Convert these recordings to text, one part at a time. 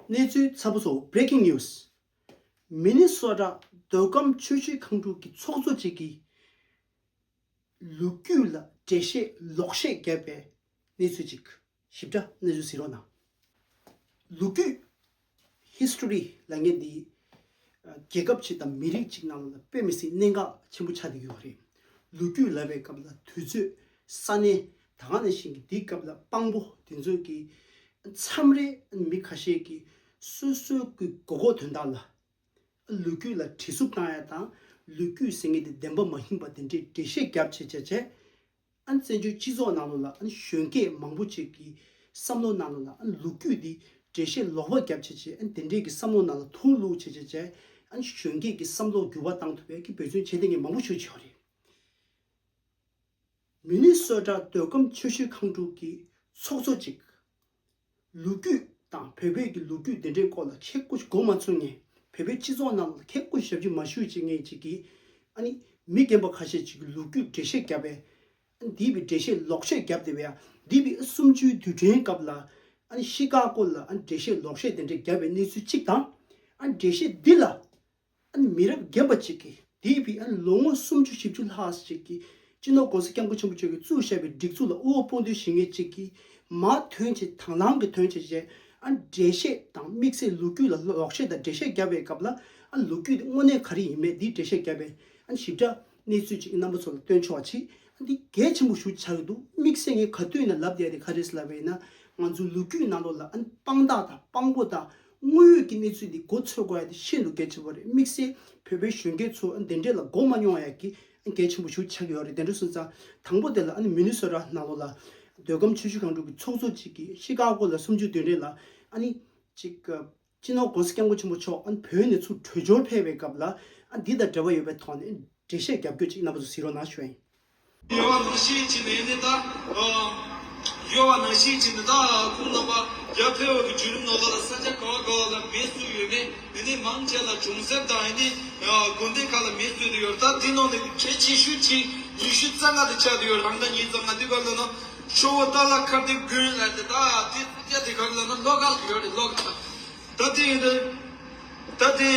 གནས་ཚུལ་གསར་པ་སོགས Breaking News། མི་ནི་སོ་དྲག་འདོད་སྐམ་ཆོས་བྱེད་ཁང་དྲུག་གི་ཚོགས་གཙོ་གཅིག་གིས་ལུག་རྒྱུད་ལ་འགྲེལ་བཤད་ལོག་བཤད་བརྒྱབ་པའི་གནས་ཚུལ་གཅིག། ཞིབ་ཕྲ་གནས་ཚུལ་གཟིགས་རོགས་གནང། ལུག་རྒྱུད། History། ལ་ངས་འདི་རྒྱལ་ཁབ་ཅིག་དང་མི་རིགས་གཅིག་ནང་ལ་དཔེ་མི་སྲིད་གནད་འགག་ཆེན་པོ་ཆགས་ཀྱི་ཡོད་པ་རེད། ལུག་རྒྱུད་ལབ་པའི་སྐབས་ལ་དུས་ཚོད་ས་གནས་ད་སྔ་ནས་བཞིན་གྱི་དེའི་སྐབས་ལ་དཔང་པོ་དེ་ཚོས་ཀྱིས་མཚམས་རེ་མི་ཁ་ཤས་ཀྱིས་སོ་སོའི་སྐུའི་གོ་གོ་དོན་དག་ལ་ལུས་རྒྱུད་ལ་བྲིས་གཟུགས་བཏང་ཡ་དང་ལུས་རྒྱུད་ཟེར་ངེས་དེ་བདེན་པ་མ་ཡིན་པ་དེ་འདྲའི་འགྲེལ་བཤད་རྒྱབ་བྱེད་བྱས་བྱས་བཙན་བྱོལ་སྤྱི་ཚོགས་ནང་ལོ་ལ་གཞོན་སྐྱེས་མང་པོ་ཅིག་གི་བསམ་བློ་ནང་ལོ་ལ་ལུག་རྒྱུད་དེ་འགྲེལ་བཤད་ལོག་པ་རྒྱབ་བྱེད་བྱས་དེ་འདྲའི་གི་བསམ་བློ་ནང་ལ་ཐུང་གླུག་བྱས་བྱས་བྱས་གཞོན་སྐྱེས་ཀྱི་བསམ་བློ་འགྱུར་བ་བཏང་ཐུབ་པའི་གི་བོད་བརྩོན་བྱེད་དེ་ངས་མང་པོ་ཞུ་བྱས་བ་རེད། མི་ནུས་གསོལ་བསྒྲགས་ཟློས་སྒོམ་ཆོས་ཞུ་ཁང་དྲུག་གི་ཚོགས་གཙོ་གཅིག། ལོ་རྒྱུས་དང་བོད་བོད་ཀྱི་ལོ་རྒྱུས་དེ་འདྲའི་སྐོར་ལ་མཁས་དགུ་སྒོ་མ་ཚུགས་ངེས་བོད་པའི་སྤྱི་ཚོགས་རྣམས་ལ་མཁས་དགུ་ཞབས་ཕྱི་མ་ཞུ་བྱེད་ངེས་ཅིག་གིས་ཨ་ནི་མི་རྒན་པོ་ཁ་ཤས་ཅིག་གི་ལོ་རྒྱུས་འགྲེལ་བཤད་བརྒྱབ་པས་ཨ་ནི་དེས་པའི་འགྲེལ་བཤད་ལོག་བཤད་བརྒྱབ་དེ་བས་ཨ་དེས་པའི་ཨ་སུམ་ཅུའི་དུས་དྲན་སྐབས་ལ་ཨ་ནི་གཤིས་ཀ་སྐོར་ལ་ཨ་ནི་འགྲེལ་བཤད་ལོག་བཤད་དེ་འདྲ་བརྒྱབ་པའི་གནས་ཚུལ་གཅིག་དང་ཨ་ནི་འགྲེལ་བཤད་འདི་ལ་མི་རབས་རྒན་པ་ཅིག་གིས་དེ་བས་ལོ་ངོ་སུམ་ཅུ་བཞི་བཅུ་ལྷག་ཞིག་གི་སྤྱི་ནོར ྋགོང་ས ྋསྐྱབས་མགོན་ཆེན་པོ་མཆོག་གིས་བཙུགས་བཞག་པའི་སྒྲིག་འཛུགས་ལ་དབུལ་བོ་དཔུང་སྡེའི་ཞིང་ངེ་ཅིག་གིས་མ་ཐོན་ཆེད་དང་བླངས་ཀྱི་ཐོན་ཆེད་བཞེས་འགྲེལ་བཤད་དང་དམིགས་བསལ་ལོ་རྒྱུས་ལ་ལོག་བཤད་དང་འགྲེལ་བཤད་བརྒྱབ་པའི་སྐབས་ལ་ལོ་རྒྱུས་དེ་དངོས་གནས་ག་རེ་ཡིན་མེད་འདིའི་འགྲེལ་བཤད་བརྒྱབ་པའི་ཞིབ་ཕྲ་གནས་ཚུལ་ཅིག་རྣམ་པ་ཚོ་ལ་སྟོན་ཆོག་ཆེད་འདི་གལ་ཆེན་པོ་ཞུ་འཆར་གྱི་འདུག་དམིགས་བསལ་ངས་ག་དུས་ནས་ལབ་བསྡད་དེ་ག་རེ་ཟེར་ལབ་པ་ཡིན་ན་ང་ཚོའི་ལོ་རྒྱུས་ནང་དུ་ལ་དཔང་རྟགས་དང་དཔང་པོ་དང། དངོས་ཡོད་ཀྱི་གནས་ཚུལ་འདི་མགོ་འཚོས་དགོས་ཡ་དེ་ཤིན་ཏུ་གལ་ཆེན་པོ་རེད་དམིགས་བསལ་བོད་པའི་གཞོན་སྐྱེས་ཚོ་འདི་འདྲས་ལ་མགོ་མ་རྙོག་ཡ་གི་གལ་ཆེན་པོ་ཞུ་ཆགས་ཡོད་རེད་དེ་འདྲས་སོང་ཙང་དང་པོ་དེ་ལ་མི་ནུས་སོ་ར་ནང་ལོ་ལ་འདོད་ཁམས་ཆོས་ཞུ་གང་དྲུག་གི་ཚོགས་གཙོ་གཅིག་གི་ཤི་ཀ་ཀོ་ལ་སུམ་ཅུ་དོན་འདྲས་ལ་གཅིག་སྤྱི་ནོར་དགོན་སྐྱབས་མགོ་ཆེན་པོ་མཆོག་བོད་ནས་ཚུར་བྲོས་འབྱོར་ཕེབས་པའི་སྐབས་ལ་འདི་དང་འབྲེལ་བ་ཡོད་པའི་ཐོག་ནས་འགྲེལ་བཤད་རྒྱབ་སྐྱོར་ཅིག་གནང་པ་ཚོ་གཟིགས་རོགས་གནང་ཞོན། གཡོ་བ་ནང་བཞིན་གྱི་ནི་ནི་དག། གཡོ་བ་ནང་བཞིན་གྱི་ནི་དག་ཁོང་རྣམ་པ་བརྒྱ་འཕེལ་བ་གི་བརྒྱུད་རིམ་ནོ་ལ་ལ་ས་ཆ་ག་བ་ག་བ་ལ་མེས་བསྲུ་ཡོད་མེ་ནི་ནི་མང་ཆེ་ལ་གྲོང་གསེབ་དང་ནི་དགོན་སྡེ་ཁག་ལ་མེས་བསྲུ་དུ་ཡོད་ལྟ་དེ་ནང་ནི་གྲེ་ཆེ་ཤོས་གཅིག་ཉི་ཤུ་རྩ་ལྔ་དུ་ཆགས་དུ་ཡོད་རང་ད་ཉིན་རྩ་ལྔ་དུས་ག་ལ་ན་ཤོ་བོ་རྟ་ལ་ཁར་དེ་དགོན་ལ་དེ་དག་དེ་སྐྱ་དེ་ག་ལ་ན་ལོག་ག་ལ་ཡོད་རེད་ལོག་ད་ད་དེ་ཡིན་རེད་ད་དེ་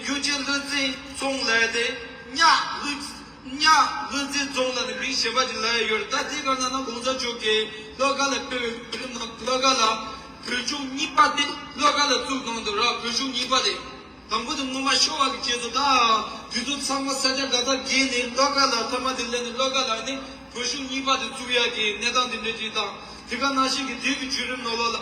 གཡུ་རྗེ་བློ་རྩིང་ཚོང་ལ་དེ་གཉགས་བླུགས། གཉའ་གནོན་རྩེ་རྫོང་ལ་ནི་མིང་ཞེས་པ་ཅིག་ལ་ཡང་ཡོད་རེད་ད་ལྟའི་སྐབས་ན་ནག་གོང་ས་མཆོག་གིས་ལྷོ་ཁ་ལ་ཕེབས་པའི་བོད་རིགས་རྣམས་ལྷོ་ཁ་ལ་བོད་གཞུང་གཉིས་པ་དེ་ལྷོ་ཁ་ལ་བཙུགས་གནང་འདུག་ར་བོད་གཞུང་གཉིས་པ་དེ་དང་པོ་དེ་སྔོན་མ་ཤོ་བ་གི་རྗེས་སུ་ད་དུས་ཚོད་ཚང་མ་ས་ཆ་འགའ་དག་བརྒལ་ནས་ལྷོ་ཁ་ལ་ཐ་མ་དེ་སླེབས་ནས་ལྷོ་ཁ་ལ་ནི་བོད་གཞུང་གཉིས་པ་དེ་བཙུགས་ཡ་གི་གནས་སྟངས་དེ་འདྲས་ཅིག་དང་དེ་ག་ནང་བཞིན་གྱི་དུས་ཀྱི་བརྒྱུད་རིམ་ནོར་ལོག་ལ་ནི་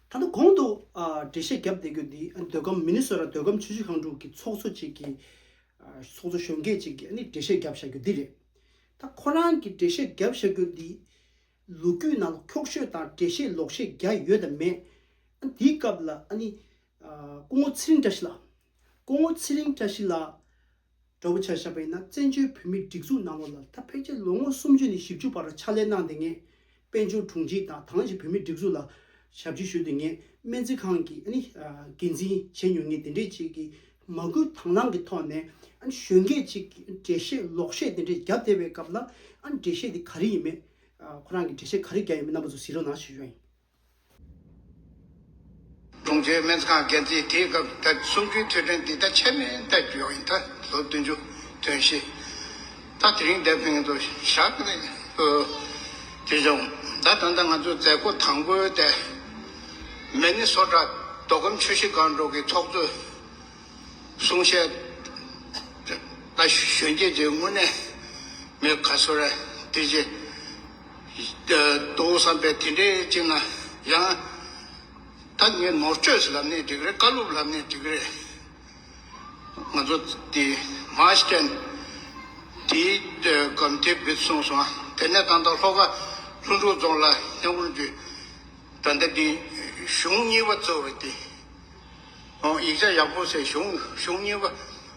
ད་ལྟ་གོང་དུ་འགྲེལ་བཤད་བརྒྱབ་བསྡད་གྱུར་འདི་འདོད་ཁམས་མི་ནི་སོ་ར་འདོད་ཁམས་ཆུ་བཞི་ཁང་དྲུག་གི་ཚོགས་གཙོ་ཅིག་གིས། ཚོགས་གཙོ་གཞོན་སྐྱེས་ཅིག་གིས་འགྲེལ་བཤད་བརྒྱབ་བཞག་རྒྱུ་འདི་རེད། ད་ཁོ་རང་གིས་འགྲེལ་བཤད་བརྒྱབ་བཞག་རྒྱུ་འདི། ལོ་རྒྱུས་ནང་ལ་འཁྱོག་བཤོད་དང་འགྲེལ་བཤད་ལོག་བཤད་རྒྱ་ཡོད་དམ་མེད། འདིའི་སྐབས་ལ། སྐུ་ངོ་ཚེ་རིང་བཀྲ་ཤིས་ལགས། སྐུ་ངོ་ཚེ་རིང་བཀྲ་ཤིས་ལགས། སྒྲོལ་བུ་ཆ་ཞབས་པས་ན་བཙན་བྱོལ་བོད་མིའི་སྒྲིག་འཛུགས་ནང་ལོགས་ལ་ད་ཕེབས་རྗེས་ལོ་ངོ་སུམ་ཅུ་ནས་བཞི་བཅུ་བར་ཕྱག་ལས་གནང་སྟེ་ངས་དཔལ་འབྱོར་དྲུང་ཆེའི་དང་ཐང་ཞིག་བོད་མིའི་སྒྲིག་འཛུགས་ལ་ཞབས་ཕྱི་ཞུས་ཏེ་ངས་སྨན་རྩིས་ཁང་གི་འགན་འཛིན་བྱས་མྱོང་ངས་དེ་འདྲའི་ཅིག་གི་མ་སྐུལ་དང་བླངས་ཀྱི་ཐོག་ནས་གཞོན་སྐྱེས་ཅིག་གི་འགྲེལ་བཤད་ལོག་བཤད་དེ་འདྲ་བརྒྱབ་བསྡད་པའི་སྐབས་ལ་འགྲེལ་བཤད་དེ་ག་རེ་ཡིན་མེད་ཁོ་རང་གི་འགྲེལ་བཤད་ག་རེ་བརྒྱབ་ཡོད་མེད་རྣམ་པ་ཚོ་གཟིགས་རོགས་གནང་ཞེས་ཞུ་བ་ཡིན། ཀྲུང་ཆེའི་སྨན་ཁང་འགན་འཛིན་དེའི་སྐབས་ད་གསུམ་བཅུའི་ཐོས་དྲན་འདི་ལྟར་ཆད་མེད་བསྟར་རྒྱུ་ཡང་ཡིན་ད་ལོ་བདུན་ཅུ་དོན་བཞི་ད་དེ་རིང་འདས་པའི་ངེད་ཚོ་ཞག་གི་རེད་འདུག་དེ་བྱུང་ད་ད་ལྟ་ང་ཚོའི་མཛད་སྒོ་དང་པོའི་ལྟེ་གནས་ནི་སོ་བྲག་མདོ་ཁམས་ཆུ་བཞི་སྒང་དྲུག་གི་ཚོགས་གཙོའི་གསུང་བཤད་ལྟ་ཞོན་རྒྱས་ཀྱི་དངོས་གནས་མི་ག་ཚོད་རེད་དེ་རྗེས། འདུག་བསམ་པས་དེ་འདྲའི་ཅིག་ན་ཡང། ད་ངས་ནོར་བཅོས་ལབ་ནས་འགྲིག་རེད་བཀའ་སློབ་ལབ་ནས་འགྲིག་རེད། ང་ཚོ་དེ་མ་བསྟན། དེའི་སྒམ་དེ་འབིད་གསུངས་སོང་དེ་ནས་ད་ལྟ་ལྷོ་ཁ་ལྷུན་གྲུ་རྫོང་ལ་སྙ་བོར་འདུས། ད་ལྟ་དེ་གཞུང་གཉིས་པ་གཙོས་པ་དེ། ཡིག་ཆ་ཡག་པོ་ཟེར་གཞུང་གཞུང་གཉིས་པ་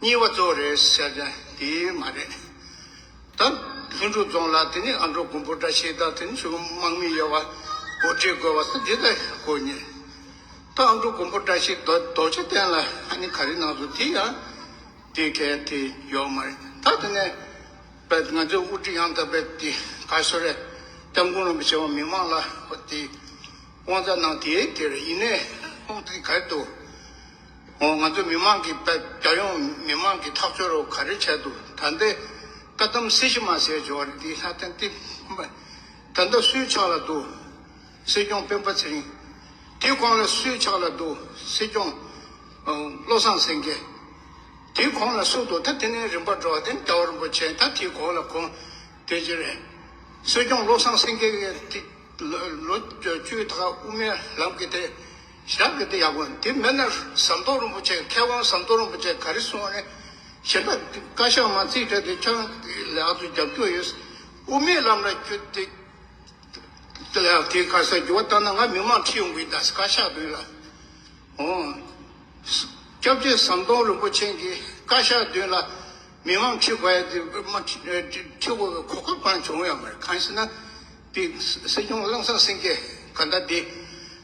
གཉིས་པ་གཙོ་བོ་རེད་ཟེར་ཀྱང་དེ་མ་རེད། ད་ལྷུན་གྲུབ་རྫོང་ལ་དེ་ནས་ཨ་མདོ་དགོན་པོ་འདྲ་ཞིག་དང་དེ་ནས་ཆོས་གོང་དམག་མི་ཡོད་པ་གོ་སྒྲིག་དགོས་པ་སོགས་འདི་ལྟར་གོ་ཉན། ད་ཨ་མདོ་དགོན་པོ་འདྲ་ཞིག་རྡོ་རྗེ་གདན་ལ་ཧ་ནི་ག་རེ་གནང་སོང་དེ་ཡང་དེ་གལ་ཏེ་ཡོད་མ་རེད་ད་དེ་ནས་པ་ང་ཚོའི་དབུ་ཁྲིད་ཡང་དག་པའི་དེ་ག་ཤོ་རེ་སྐྱབས་མགོན་རིན་པོ་ཆེ་བ་མི་མང་ལ་དེ་དབང་རྩ་གནང་དེ་དེར་ཡིན་ནས་ཁོང་དེ་ག་རེ་འདུག་ང་ཚོ་མི་མང་གིས་རྒྱལ་ཡོངས་མི་དམངས་ཀྱི་ཐག་གཅོད་རོགས་ག་རེ་བྱས་འདུག་ད་ལྟའི་བཀའ་གདམས་གསེར་གཞི་མ་ཟེར་བྱས་བ་རེད་འདི་ལྷ་ལྡན་ཏི་ད་ལྟ་སུའི་ཕྱག་ལ་འདུག་སྲིད་སྐྱོང་སྤེན་པ་ཚེ་རིང། དེའི་གོང་ལ་སུའི་ཕྱག་ལ་འདུག་སྲིད་སྐྱོང་བློ་བཟང་སེང་གེ། དེའི་གོང་ལ་སུ་འདུག་ད་དེ་ནས་རིམ་པར་འགྲོ་བ་དེ་རྒྱ་བོ་རིན་པོ་ཆེ་ད་དེའི་གོང་ལ་གོང་དེ་རྗེ་རེད། སྲིད་སྐྱོང་བློ་བཟང་སེང་གེ་ལོ་བཅུའི་དག་དབུ་མའི་ལམ་གྱི་དེ། ཞག་གི་དེ་ཡག་པོ་འདི་མེད་ན་ཟམ་གདོང་རིན་པོ་ཆེ་མཁས་དབང་ཟམ་གདོང་རིན་པོ་ཆེ་ག་རེ་གསུང་བ་ནི་ཞེ་འདྲ་བཀའ་ཤག་མ་རྩིས་སྤྲད་དུས་ཆང་ལེ་ཨ་ཚོ་རྒྱབ་སྐྱོར་ཡོད་དབུ་མའི་ལམ་ལ་བསྐྱོད་དེ་ལེ་ཨ་དེ་ག་ས་འགྱུར་བ་ལྟར་ན་ང་མི་མང་ཁྲི་ཡོང་གི་ད་བཀའ་ཤག་དོན་ལ་འོང་སྐྱབས་རྗེ་ཟམ་གདོང་རིན་པོ་ཆེན་གྱི་བཀའ་ཤག་དོན་ལ་མི་མང་ཁྲི་བ་ཡི་དེ་མ་ཁྲི་བ་གོ་སྐབས་གང་བྱུང་ཡང་མ་རེད་གང་ཞེ་ན་དེ་སྲིད་སྐྱོང་བླངས་སངས་སེང་གེ་ག་ད་དེ།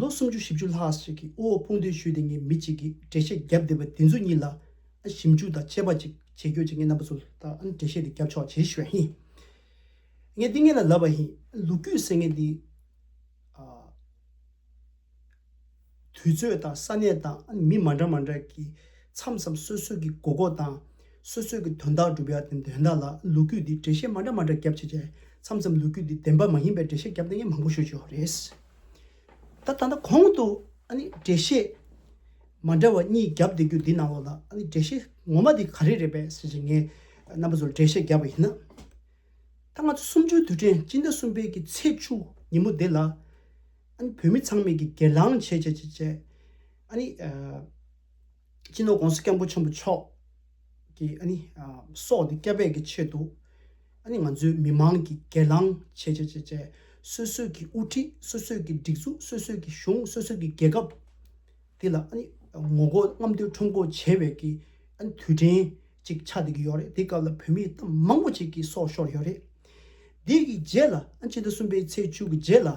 ལོ་སུམ་ཅུ་བཞི་བཅུ་ལྷག་ཞིག་གི་དབུལ་བོ་ཕོངས་དུས་ཤུལ་དེ་ངས་མི་གཅིག་གིས་འགྲེལ་བཤད་བརྒྱབ་བསྡད་པ་དེ་ཚོ་གཉིས་ལ་ཞིབ་འཇུག་དང་དཔྱད་པ་ཅིག་བྱེད་ཁྱོད་ཀྱིས་ངའི་རྣམ་པ་ཚོ་ལ་འགྲེལ་བཤད་དེ་བརྒྱབ་ཆོག་ཅེས་ཞུས་པ་ཡིན། ངས་འདི་ངེད་ལ་ལབ་པ་ཡིན། ལུག་རྒྱུད་ཟེར་མཁན་དེ། དུས་ཚོད་དང་ས་གནས་དང་མི་མ་འདྲ་མ་འདྲ་གིས་མཚམས་མཚམས་སོ་སོ་གིས་མགོ་སྐོར་དང། སོ་སོས་ཀྱི་དོན་དག་སྒྲུབ་ཡ་དེ་འདོན་དག་ལ་ལུག་རྒྱུད་འདིས་འགྲེལ་བཤད་མ་འདྲ་མ་འདྲ་བརྒྱབ་བྱས་རྗེས་མཚམས་མཚམས་ལུག་རྒྱུད་འདིས་བདེན་པ་མ་ཡིན་པའི་འགྲེལ་བཤད་བརྒྱབ་ལྟ་ངན་མང་པོ་ཤོད་ཀྱི་ཡོད་རེད། ད་ད་ལྟ་གོང་དུ་འགྲེལ་བཤད་མ་འདྲ་བ་གཉིས་བརྒྱབ་བསྡད་རྒྱུ་འདི་ནང་ལོགས་ལ་འགྲེལ་བཤད་ངོ་མ་དེ་ག་རེ་རེད་པས་ཟེར་བྱས་ངས་རྣམ་པ་ཚོར་འགྲེལ་བཤད་བརྒྱབ་པ་ཡིན། ད་ང་ཚོ་སུམ་ཅུའི་དུས་དྲན་སྤྱི་ཟླ་གསུམ་པའི་གི་ཚེས་བཅུ་ཉིན་མོ་འདི་ལ་བོད་མི་ཚང་མས་གི་སྒེར་ལངས་བྱེད་བྱེད་བྱེད་བྱེད། སྤྱི་ནོར ྋགོང་ས ྋསྐྱབས་མགོན་ཆེན་པོ་མཆོག་གིས་ཨ་ནི་སོགས་ཏེ་སྐྱབས་འབད་ཀྱི་ཆེད་དུ་ཨ་ནི་ང་ཚོའི་མི་དམངས་ཀྱི་སྒེར་ལངས་བྱེད་བྱེད་བྱེད་བྱེད་སོ་སོས་ཀྱི་དབུ་ཁྲིད་སོ་སོས་ཀྱི་སྒྲིག་འཛུགས་སོ་སོས་ཀྱི་གཞུང་སོ་སོས་ཀྱི་རྒྱལ་ཁབ་འདི་ལ་ཨ་ནི་ངོ་རྒོལ་རྔམ་སྟོན་ཁྲོམ་སྐོར་བྱེད་བའི་ཀྱི་ཨ་ནི་དུས་དྲན་ཅིག་ཆགས་བསྡད་ཀྱི་ཡོད་རེད་དེའི་སྐབས་ལ་བོད་མིའི་གཏམ་མང་པོ་ཅིག་གི་སོགས་ཤོར་ཡོད་རེད། དེའི་ཀྱི་རྗེས་ལ་ཨ་ནི་སྤྱི་ཟླ་གསུམ་པའི་ཚེས་བཅུ་གྱི་རྗེས་ལ་ཨ་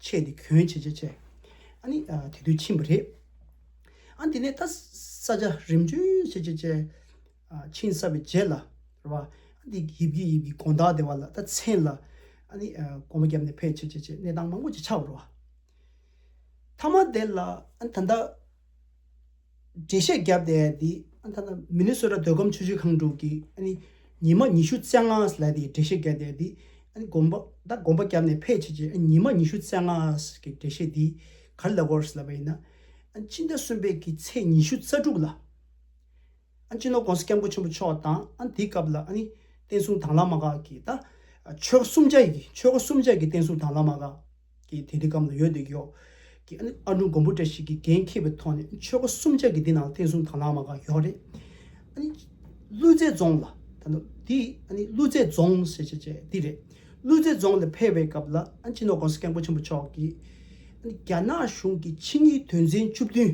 ཆད་དེ་གྱོན་བྱེད་ཅེས་བྱས། ཨ་ནི་དེ་དུས་ཕྱིན་པ་རེད། ཨ་དེ་ནས་ད་ས་ཆ་རིམ་བྱོན་བྱེད་ཅེས་བྱས། ཕྱིན་ས་བའི་རྗེས་ལ་ར་བ། ཨ་དེ་ཡིབ་ཀྱི་ཡིབ་ཀྱི་དགོན་བདག་སྡེ་བ་ལ་ད་མཚན་ལ། ཨ་ནི་སྒོ་མ་བརྒྱབ་ནས་ཕེབས་བྱེད་ཅེས་བྱས་གནས་སྟངས་མང་པོ་ཅིག་ཆགས་པར་ར་བ། མཐའ་མ་དེ་ལ་ཨ་ནི་ད་ལྟ། འགྲེལ་བཤད་བརྒྱབ་སྟེ་དེ་ཨ་ཐ་ན་མི་ནི་སོ་ར་ཟློས་གམ་ཆུ་བཞི་ཁང་དྲུག་གི་ཨ་ནི་ཉི་མ་ཉི་ཤུ་རྩེ་ལྔ་ལ་དེ་འགྲེལ་བཤད་བརྒྱབ་སྟེ་དེ་ཨ་ནི་དགོངས་པ་ད་དགོངས་པ་བརྒྱབ་ནས་ཕལ་ཆེར་གྱིས་ཨ་ནི་ཉི་མ་ཉི་ཤུ་རྩེ་ལྔ་གི་འགྲེལ་བཤད་དེ་གར་ལ་གོར་ལབ་པ་ཡིན་ན་ཨ་ནི་སྤྱི་ཟླ་གསུམ་པའི་གི་ཚེས་ཉི་ཤུ་རྩ་དྲུག་ལ་ཨ་ནི་སྤྱི་ནོར ྋགོང་ས་སྐྱབས་མགོན་ཆེན་པོ་མཆོག་དང་ཨ་ནི་དེའི་སྐབས་ལ་ཨ་ནི་བསྟན་སྲུང་དྭངས་བླ་མ་འགས་ཀྱིས་ད་ཆོལ་ཁ་གསུམ་ཆ་ཡི་ཆོལ་ཁ་གསུམ་ཆ་གི་བསྟན་སྲུང་དྭངས་བླ་མ་འགས། ཀྱིས་དེ་འདི་གམ་ལ་ཡོད་འདི་གཡོག། ཀྱིས་ཨ་ཨ་འབྲུག་མགོན་པོ་འདྲ་ཞིག་གིས་འགན་འཁྱེར་བའི་ཐོག་ནས་ཆོལ་ཁ་གསུམ་ཆ་གིས་འདི་ནང་བསྟན་སྲུང་དང་ལ་མ་ག་གཡོག་རེད། ཀླུ་རྫེ་རྫོང་ལ། ད་ནོ། འདི། ཀླུ་རྫེ་རྫོང། ཞེས་བྱ་བྱས་འདི་རེད། ཀླུ་རྫེ་རྫོང་ལ་ཕེབས་པའི་སྐབས་ལ་སྤྱི་ནོར་ཀོང་སི་སྐལ་མགོན་ཆེན་པོ་མཆོག་གིས། རྒྱ་ནག་གཞུང་གི་ཕྱི་གཉིས་དོན་ཚན་བཅུ་བདུན།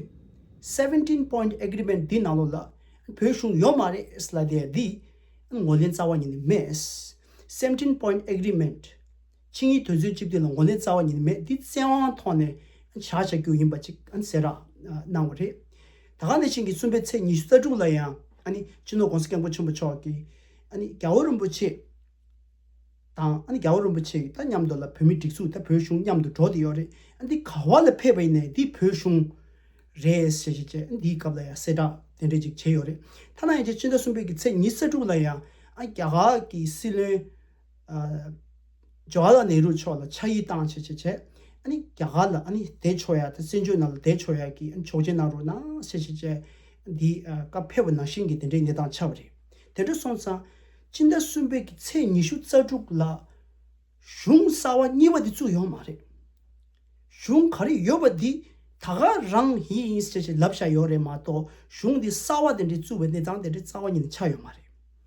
Seventeen Point Agreement། འདི་ནང་ལོགས་ལ་བོད་གཞུང་ཡོད་མ་རེད། ལ་དེ་ཡང་འདི། ངོས་ལེན་རྩ་བ་ཉིད་ནས་མེད། Seventeen Point Agreement། ཆིངས་ཡིག་དོན་ཚན་བཅུ་བདུན་ལ་མགོ་ནས་རྩ་བ་ཉིད་མེད་འདི་བཙན་དབང་ཐོག་ནས་བྱ་བྱ་རྒྱུ་ཡིན་པ་ཅིག་གསལ་བསྒྲགས་གནང་བ་རེད། ད་ག་ནས་ཆིངས་ཀྱི་གསུམ་པའི་ཚེས་ཉི་ཤུ་རྩ་དྲུག་ལ་ཡང་སྤྱི་ནོར ྋགོང་ས ྋསྐྱབས་མགོན་ཆེན་པོ་མཆོག་གིས་རྒྱ་བོད་རིན་པོ་ཆེ་དང་རྒྱ་བོད་རིན་པོ་ཆེ་དང་མཉམ་དུ་ལ་བོད་མི་སྒྲིག་འཛུགས་དང་བོད་གཞུང་མཉམ་དུ་འགྲོ་དེ་ཡོད་རེད་འདི་ག་བ་ལ་ཕེབས་པ་ཡིན་ནས་འདི་བོད་གཞུང་རེད་ཞེས་བྱས་རྗེས་འདིའི་སྐབས་ལ་ཡང་གསལ་བསྒྲགས་དེ་འདྲས་ཅིག་བྱས་ཡོད་རེད། ཐ་ན་ཡང་རྗེ་སྤྱི་ཟླ་གསུམ་པའི་ཀྱི་ཚེས་ཉི་ཤུ་རྩ་དྲུག་ལ་ཡང་རྒྱ་གར་གྱི་སྲིད་བློན། Jawaharlal Nehru མཆོག་ལ་ཕྱག་ཡིག་བཏང་བྱས་བྱས་བྱས། རྒྱ་གར་ལ་དེད་ཆོག་ཡ་དེ་བཙན་བྱོལ་ནང་ལ་དེད་ཆོག་ཡ་གི་ཆོག་མཆན་གནང་རོགས་གནང་བྱས་བྱས་བྱས། འདི་སྐབས་ཕལ་བ་ནང་བཞིན་གྱི་དེ་འདྲའི་གནས་སྟངས་ཆགས་པ་རེད། དེ་འདྲ་སོང་ཙང། སྤྱི་ཟླ་གསུམ་པའི་གི་ཚེས་ཉི་ཤུ་རྩ་དྲུག་ལ། གཞུང་གསར་བ་གཉིས་པ་དེ་བཙུགས་ཡོང་མ་རེད། གཞུང་ག་རེ་ཡོད་པ་དེ་ད་ག་རང་ཡིན་ཡིན་བྱས་བྱས་ལབ་བཞག་ཡོད་རེད་མ་གཏོགས་གཞུང་དེ་གསར་བ་དེ་འདྲའི་བཙུགས་པའི་གནས་སྟངས་དེ་འདྲའི་རྩ་བ་ཉིད་ནས་ཆགས་ཡོད་མ་རེད།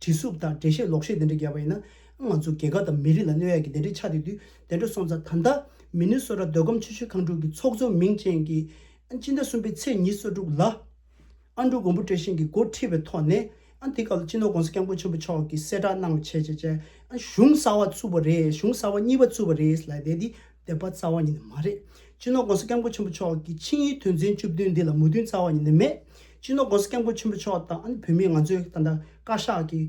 བྲིས་སྲུབ་དང་འགྲེལ་བཤད་ལོག་བཤད་དེ་འདྲ་རྒྱབ་པ་ཡིན་ན། ང་ཚོ་རྒྱལ་ཁབ་དང་མི་རིགས་ལ་གནོད་ཡག་གི་དེ་འདྲའི་ཆ་དེ་དུས་དེ་འདྲ་སོང་ཙང་ད་ལྟ། མི་ནུས་སོ་ར་སྡོད་སྒོམ་ཆེ་ཤོས་ཁང་དྲུག་གི་ཚོགས་གཙོ་མིང་ཅན་གྱི། སྤྱི་ཟླ་གསུམ་པའི་ཚེས་ཉིས་སོ་དྲུག་ལ། ཨ་འབྲུག་མགོན་པོ་བཀྲ་ཤིས་ཀྱི་མགོ་ཁྲིད་པའི་ཐོག་ནས། དེ་སྐབས་ལ་སྤྱི་ནོར ྋགོང་ས ྋསྐྱབས་མགོན་ཆེན་པོ་མཆོག་གིས་གསལ་བསྒྲགས་གནང་བ་བྱས་བྱས་བྱས། གཞུང་གསར་བ་བཙུགས་པ་རེད་གཞུང་གསར་བ་གཉིས་པ་བཙུགས་པ་རེད་ལ་དེ་དེ། བདེན་པ་རྩ་བ་ཉིད་ནི་མ་རེད། སྤྱི་ནོར ྋགོང་ས ྋསྐྱབས་མགོན་ཆེན་པོ་མཆོག་གི་ཆིངས་ཡིག་དོན་ཚན་བཅུ་བདུན་འདི་ལ་མོས་མཐུན་རྩ་བ་ཉིད་ནས་མེད། སྤྱི་ནོར ྋགོང་ས ྋསྐྱབས་མགོན་ཆེན་པོ་མཆོག་དང་ཨ་ནི་བོད་མི་ང་ཚོའི་ད་ལྟ་བཀའ་ཤག་གི་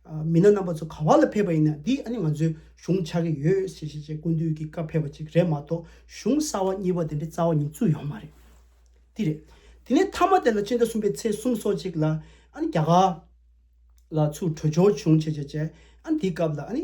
མི་སྣ་རྣམ་པ་ཚོ་ག་བ་ལ་ཕེབས་པ་ཡིན་ན་འདི་ཨ་ནི་ང་ཚོའི་གཞུང་ཆགས་ཀྱི་ཡོད་ཟེར་ཞེས་བཅས་ཀུན་འདུས་ཀྱི་བཀའ་ཕེབས་པ་ཅིག་རེད་མ་གཏོགས་གཞུང་གསར་བ་གཉིས་པ་དེ་འདྲའི་རྩ་བ་ཉིད་བཙུགས་ཡོང་མ་རེད། འདི་རེད། དེ་ནས་མཐའ་མ་དེ་ལ་སྤྱི་ཟླ་གསུམ་པའི་ཚེས་གསུམ་སོ་གཅིག་ལ་ཨ་ནི་རྒྱ་གར་ལ་ཚུར་བྲོས་འབྱོར་བྱུང་ཞེས་བཅས་བཅས་ཨ་ནི་དེའི་སྐབས་ལ་ཨ་ནི།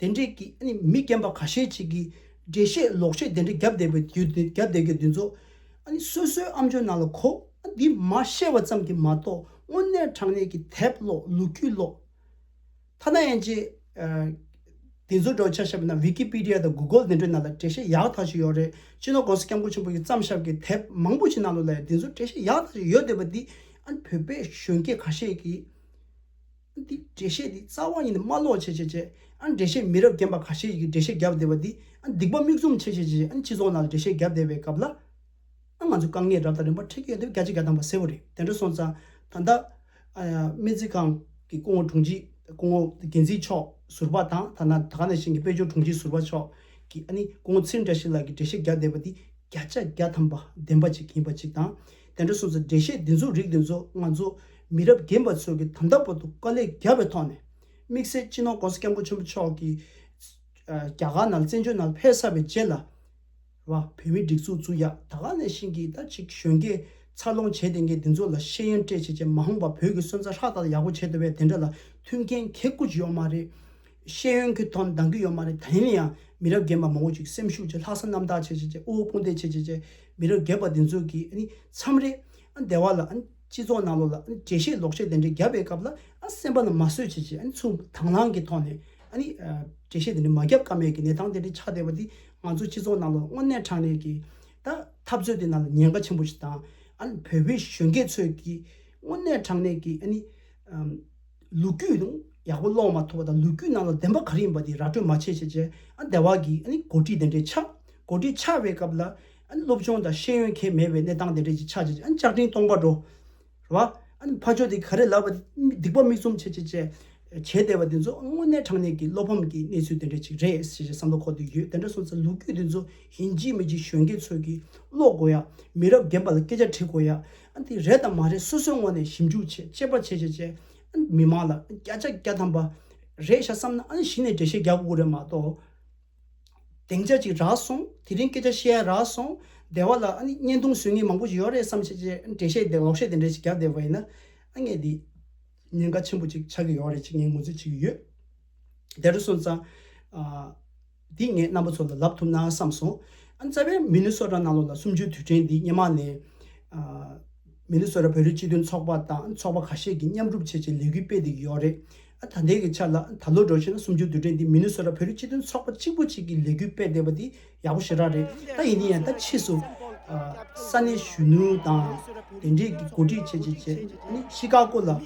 དེ་འདྲའི་གི་མི་རྒན་པ་ག་ཤེད་ཅིག་གིས་འགྲེལ་བཤད་ལོག་བཤད་དེ་འདྲ་བརྒྱབ་བསྡད་པའི་དུས་བརྒྱབ་བསྡད་དགོས་དུས་ཚོད་སོ་སོའི་ཨམ་ཆོས་ནང་ལ་གོ་འདི་མ་བཤད་བ་ཙམ་གྱིས་མ་གཏོགས་དངོས་གནས་དྲང་གནས་ཀྱི་དེབ་ཀློག་ལོ་རྒྱུས་ཀློག་ཐ་ན་ཡན་ཆད་དེ་ཚོ་འདྲ་བོ་ཆ་ཤས་པ་ན Wikipedia དང Google དེ་འདྲའི་ནང་ལ་འགྲེལ་བཤད་ཡག་ཐག་ཅིག་ཡོད་རེད་སྤྱིར་ན ྋགོང་ས ྋསྐྱབས་མགོན་ཆེན་པོ་ཡི་བརྩམས་ཞབས་ཀྱི་དེབ་མང་པོ་ཞིག་ནང་ལ་ཡང་དེ་ཚོ་འགྲེལ་བཤད་ཡག་ཐག་ཅིག་ཡོད་བསྡད་པ་འདི་བོད་པའི་གཞོན་སྐྱེས་ག་ཤེད་ཀྱིས། འདི་འགྲེལ་བཤད་འདི་རྩ་བ་ཉིད་ནས་སྨྲ་ལོག་བྱེད་བྱེད་བྱེད་ཨ་འགྲེལ་བཤད་མི་རབས་རྒན་པ་ག་ཤེད་ཡི་གི་འགྲེལ་བཤད་བརྒྱབ་བསྡད་པ་འདི་ཨ་སྡིག་པ་མིག་ཙུམ་བྱེད་བྱེད་བྱེད་ཨ་སྤྱི་ཚོགས་ནང་ལ་འགྲེལ་བཤད་བརྒྱབ་བསྡད་པའི་སྐབས་ལ་ཨ་ང་ཚོས་དཀའ་ངལ་རབ་དང་རིམ་པ་འཕྲད་ཀྱི་ཡོད་འདེབས་བརྒྱ་ཆ་བརྒྱ་བཏང་བ་གསལ་བོ་རེད་དེ་འདྲ་སོང་ཙང་ད་ལྟ་སྨན་རྩིས་ཁང་གི་སྐུ་ངོ་དྲུང་ཆེ་སྐུ་ངོ་འགན་འཛིན་མཆོག་ཟུར་པ་དང་ཐ་ན་ད་ག་ནས་ཞིང་གི་དཔལ་འབྱོར་དྲུང་ཆེ་ཟུར་པ་མཆོག་གིས་ཨ་ནི་སྐུ་ངོ་ཚེ་འདྲ་ཞིག་ལགས་ཀྱིས་འགྲེལ་བཤད་བརྒྱབ་བསྡད་པ་འདི་བརྒྱ་ཆ་བརྒྱ་ཐམ་པ་བདེན་པ་ཅིག་ཡིན་པ་ཅིག་དང། དེ་འདྲ་སོང་ཚེ་འགྲེལ་བཤད་འདི་ཚོ་རིགས་འདི་ཚོ་ང་ཚོ་མི་རབས་རྒན་པ་ཚོས་ཀྱི་དམ་ད་བོ་དུ་དཀའ་ལས་བརྒྱབ་པའི་ཐོག་ནས། དམིགས་བསལ་སྤྱི་ནོར ྋགོང་ས ྋསྐྱབས་མགོན་ཆེན་པོ་མཆོག་གིས་རྒྱ་གར་ནང་བཙན་བྱོལ་ནང་ཕེབས་གསར་བའི་རྗེས་ལ། བོད་མིའི་སྒྲིག་འཛུགས་བཙུགས་ཡག་ད་ག་ནས་བཞིན་གྱི་ད་ཅིག་གཞོན་སྐྱེས་འཚར་ལོངས་བྱས་ལྡན་མཁན་འདི་ཚོ་ལ་ཤེས་ཡོན་སྤྲད་བྱས་རྗེས་མ་འོངས་པ་བོད་ཀྱི་སོན་རྩ་ཧྲག་ཐག་ཡག་པོ་བྱེད་འདོད་པའི་དེ་འདྲ་ལ་མཐུན་མཁན་གལ་དཀུ་ཅིག་ཡོག་མ་རེད། ཤེས་ཡོན་གྱི་དོན་འདང་གི་ཡོད་མ་རེད་ད་ཡིན་ཡང་མི་རབས་རྒན་པ་མང་བོ་ཅིག་སེམས་ཤུགས་ཀྱིས་ལྷག་བསམ་རྣམ་དག་བྱེད་བྱེད་བྱེད་དབུལ་བོ་དཔུང་སྡེ་བྱེད་བྱེད་བྱེད་མི་རབས་རྒས་པ་འདི་ཚོ་གིས་མཚམས་རེ། སྡེ་བ་ལ། སྤྱི་ཚོགས་ནང་ལོགས་ལ་འགྲེལ་བཤད་ལོག་བཤད་དེ་འདྲས་བརྒྱབ་པའི་སྐབས་ལ་སེམས་པ་ལ་མ་བཟོད་བྱེད་བྱེད་ཚུར་དྭངས་བླངས་ཀྱི་ཐོག་ནས། འགྲེལ་བཤད་དེ་འདྲས་མ་བརྒྱབ་ཀ་མེད་ཀྱི་གནས་སྟངས་དེ་འདྲས་ཆགས་བསྡད་པ་འདིས་ང་ཚོ་སྤྱི་ཚོགས་ནང་ལོགས་དངོས་གནས་དྲང་གནས་ཀྱི། འཐབ་རྩོད་དེ་ནང་ལ་ཉེན་ཁ་ཆེན་པོ་ཞིག་དང། བོད་པའི་གཞོན་སྐྱེས་ཚོས་ཀྱིས་དངོས་གནས་དྲང་གནས་ཀྱི། ལུག་ཁྱུ་ཡང་ཡག་པོ་སློག་མ་ཐུབ་པ་དང་ལུག་ཁྱུ་ནང་ལ་བདེན་པ་ག་རེ་ཡིན་པ་དེ་ར་སྤྲོད་མ་བྱས་བྱས་བྱས་ཨ་དེ་བ་གི་ཨ་ནི་གོ་སྒྲིག་དེ་འདྲས་ཆགས། གོ་སྒྲིག་ཆགས་པའི་སྐབས་ལ་ཨ་ནི་སློབ་སྦྱོང་དང་ཤེས་ཡོན་མཁན་མེད་པའི་གནས་སྟངས་དེ་འདྲས་ཀྱི་ཆགས་བྱས་བྱས་ཨ་ནི་ལྕགས་ཀྲིན་སྟོང་པ་འགྲོ། རེད་བ། ཨ་ནི་ཕ་ཆོས་དེ་ག་རེ་ལབ་པ་དེ་སྡིག་པ་མིག་བཙུམ་བྱས་བྱས་བྱས་བྱས་བསྡད་པ་དེ་ཚོ་དངོས་གནས་དྲང་གནས་ཀྱི་བློ་ཕམ་གྱི་གནས་ཚུལ་དེ་འདྲས་ཅིག་རེད་བྱས་བྱས་བསམ་བློ་ཁོག་ཏུ་ཡོད་དེ་འདྲ་སོང་ཚེ་ལུག་ཁྱུ་དེ་ཚོ་ཡིན་གཅིག་མིན་གཅིག་གཞོན་སྐྱེས་ཚོས་ཀྱིས་སློག་དགོས་ཡ། མི་རབས་རྒན་པ་ལ་སྐད་ཆ་དྲིས་དགོས་ཡ། འདི་རེད་དམ་མ་རེད་སོ་སོའི་ངོ་ནས་ཞིབ་འཇུག་བྱེད་དཔྱད་པ་བྱེད་བྱེད་བྱེད། མི་མང་ལ་སྐྱ་ཆ་སྐྱ་ཐམ་པ་རེད་ཤག་བསམ་ན་གཞི་ནས་འགྲེལ་བཤད་རྒྱག་དགོས་རེད་མ་གཏོགས། དེང་ཆ་ཅིག་རག་སོང་དེ་རིང་སྐད་ཆ་བཤད་ཡ་རག་སོང་སྡེ་བ་ལ་བརྙན་ཐུང་བཟོས་ངེས་མང་པོ་ཞིག་ཡོད་རེད་བསམ་བྱེད་བྱེད་འགྲེལ་བཤད་དེ་ལོག་བཤད་དེ་འདྲ་ཞིག་རྒྱག་བསྡད་པ་ཡིན་ན། ངས་འདི་ཉེན་ཁ་ཆེན་པོ་ཅིག་ཆགས་ཀྱི་ཡོད་རེད་ཅེས་ངས་ངོས་འཛིན་བྱེད་ཀྱི་ཡོད། དེ་རུ་སོང་ཙང། འདི་ངས་རྣམ་པ་ཚོ་ལ་ལབ་ཐུབ་ན་བསམ་སོང། རྩ་བའི་མི་ནི་སོ་ཀྲ་ནང་ལོག་ལ་གསུམ་བཅུའི་དུས་དྲན་འདི་སྙེ་མ་ནས། མི་ནི་སོ་ཀྲ་བོད་རིགས་སྤྱི་མཐུན་ཚོགས་པ་དང་ཚོགས་པ་ཁ་ཤས་ཀྱིས་མཉམ་སྒྲུབ་བྱེད་ཆེད་ལས་འགུལ་སྤེལ་འདི་ཡོད་རེད། ད་ལྟའི་གི་ཆ་ལ་ད་ལོ་འགྲོ་ཕྱིན་ན་གསུམ་བཅུའི་དུས་དྲན་འདི་མི་ནི་སོ་ཀྲ་བོད་རིགས་སྤྱི་མཐུན་ཚོགས་པ་གཅིག་པུ་གཅིག་གིས་ལས་འགུལ་སྤེལ་བསྡད་པ་འདི་ཡག་པོ་ཞེ་དྲག་རེད་ད་ཡིན་ནའི་ཡང་ད་ཕྱིས་སུ། ས་གནས་གཞོན་ནུ་དང་དེ་འབྲེལ་གྱི་འགོ་ཁྲིད་བྱེད་ཆེད་ནི་ཤི་ཀ་ཀོ་ལ།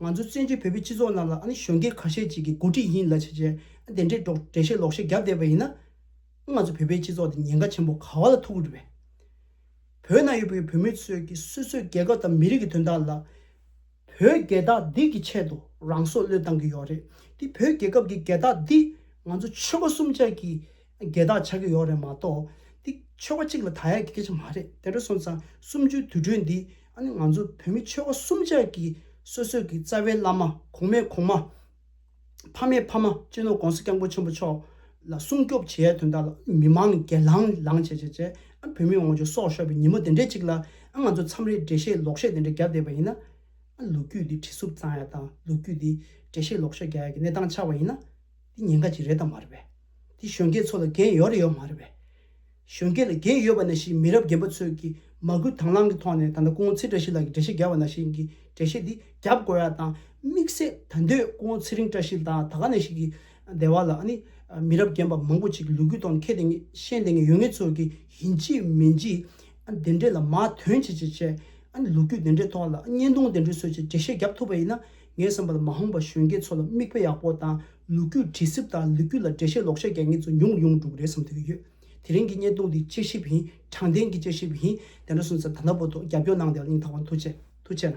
ང་ཚོ་བཙན་བྱོལ་བོད་པའི་སྤྱི་ཚོགས་ནང་ལ་ཨ་ནི་གཞོན་སྐྱེས་ཁ་ཤས་ཅིག་གིས་འགོ་ཁྲིད་ཡིན་ལ་བྱས་བྱས་ཨ་དེ་འདྲས་འགྲོགས་འགྲེལ་བཤད་ལོག་བཤད་བརྒྱབ་བསྡད་པ་ཡིན་ན། ཨ་ང་ཚོ་བོད་པའི་སྤྱི་ཚོགས་འདི་ཉེན་ཁ་ཆེན་པོ་ག་བ་ལ་ཐུག་གི་རེད་བས། བོད་ནང་ཡོད་པའི་བོད་མི་ཚོས་ཀྱི་སོ་སོའི་རྒྱལ་ཁབ་དང་མི་རིགས་ཀྱི་དོན་དག་ལ། བོད་རྒྱལ་དག་སྡིག་གི་ཆེད་དུ་རང་སྲོག་བློས་བཏང་གི་ཡོད་རེད་དེ་བོད་རྒྱལ་ཁབ་ཀྱི་རྒྱལ་དག་འདི་ང་ཚོ་ཆོལ་ཁ་གསུམ་ཆ་གིས་སྒེར་བདག་ཆགས་ཀྱི་ཡོག་རེད་མ་གཏོགས། འདི་ཆོལ་ཁ་གཅིག་ལ་ད་ཡག་གི་སྐད་ཆ་མ་རེད་དེ་འདྲ་སོང་ཙང་གསུམ་བཅུའི་དུས་གྲོས་འདི་ཨ་ནི་ང་ཚོ་བོད་མི་ཆོལ་ཁ་གསུམ་ཆ་གི་སོ་སོས་གི་རྩ་བའི་བླ་མ་གོང་མའི་གོང་མ། ཕ་མའི་ཕ་མ་གཅེས་ནོར་གོང་ས་སྐྱབས་མགོན་ཆེན་པོ་མཆོག་ལ་སྲུང་སྐྱོབ་བྱེད་ཡའི་དོན་དག་ལ་མི་མང་སྒེར་ལང་ལང་བྱས་བྱས་བྱས་ཨ་བོད་མི་འོང་ཆོག་སོགས་ཤོར་བའི་ཉིན་མོ་དེ་འདྲའི་གཅིག་ལ་ཨ་ང་ཚོ་མཚམས་རེ་འགྲེལ་བཤད་ལོག་བཤད་དེ་འདྲ་རྒྱབ་བསྡད་པ་ཡིན་ན་ཨ་ལོ་རྒྱུས་འདི་བྲིས་སུབ་ཙང་ཡ་དང་ལོ་རྒྱུས་འདི་འགྲེལ་བཤད་ལོག་བཤད་རྒྱག་ཡ་གི་གནས་སྟངས་ཆགས་པ་ཡིན་ན་འདི་ཉེན་ཁ་གཅིག་རེད་དམ་མ་རེད་པས། འདི་གཞོན་སྐྱེས་ཚོ་ལ་འགན་ཡོད་རེད་ཡོད་མ་རེད་བས། གཞོན་སྐྱེས་ལ་འགན་ཡོད་པ་ན་ཞིག་མི་རབས་རྒན་པ་ཚོས་ཀྱིས་མ་སྐུལ་དྭང་བླང་གི་ཐོག་ནས་ད་ལྟ་སྐུ་ངོ་ཚེ་བཀྲ་ཤིས་ལགས་ཀྱིས་འགྲེལ་བཤད་རྒྱབ་པ་ན་ཞིག་གིས་འགྲེལ་བཤད་འདི་རྒྱབ་དགོས་ཡ་དང་དམིགས་བསལ་ད་འདོད་སྐུ་ངོ་ཚེ་རིང་བཀྲ་ཤིས་ལགས་ད་ག་ནས་ཞིག་གིས་སྡེ་བ་ལ་ནི་མི་རབས་རྒན་པ་མང་པོ་ཅིག་ལུས་ཁུལ་ཐོག་ནས་མཁས་དེ་ངས་ཤེས་དེ་ངས་ཡོད་ངེས་ཚོས་ཀྱིས་ཡིན་གཅིག་མིན་གཅིག་དེ་འདྲས་ལ་མ་དོན་ཆེ་ཆེ་བྱས་ལུགས་རྒྱུས་དེ་འདྲས་ཐོག་ལ་བརྙན་ཐུང་དེ་འདྲས་བཟོས་ཅིག་འགྲེལ་བཤད་རྒྱབ་ཐུབ་པ་ཡིན་ན། ངའི་བསམ་པ་ལ་མ་ཧོང་པ་གཞོན་སྐྱེས་ཚོ་ལ་མིག་དཔེ་ཡག་པོ་དང་ལུག་རྒྱུད་དྲི་སྲིབ་དང་ལུག་རྒྱུད་ལ་འགྲེལ་བཤད་ལོག་བཤད་རྒྱག་མཁན་ཚོ་ཉུང་རུ་ཡོང་གི་འགྲོ་གི་རེད་བསམ་ཐུབ་ཀྱི་ཡོད། དེ་རིང་གི་བརྙན་ཐུང་འདི་དཔྱད་ཞིབ་ཡིན་དྲང་བདེན་གྱི་དཔྱད་ཞིབ་ཡིན་དེ་འདྲ་སོང་ཚེ་ད་ལྟ་བོ་ཐོག་རྒྱབ་སྐྱོར་གནང་བདེ་ལ་སྙིང་ཐག་པ་མཐུག་ཆེ་མཐུག་ཆེ་ན།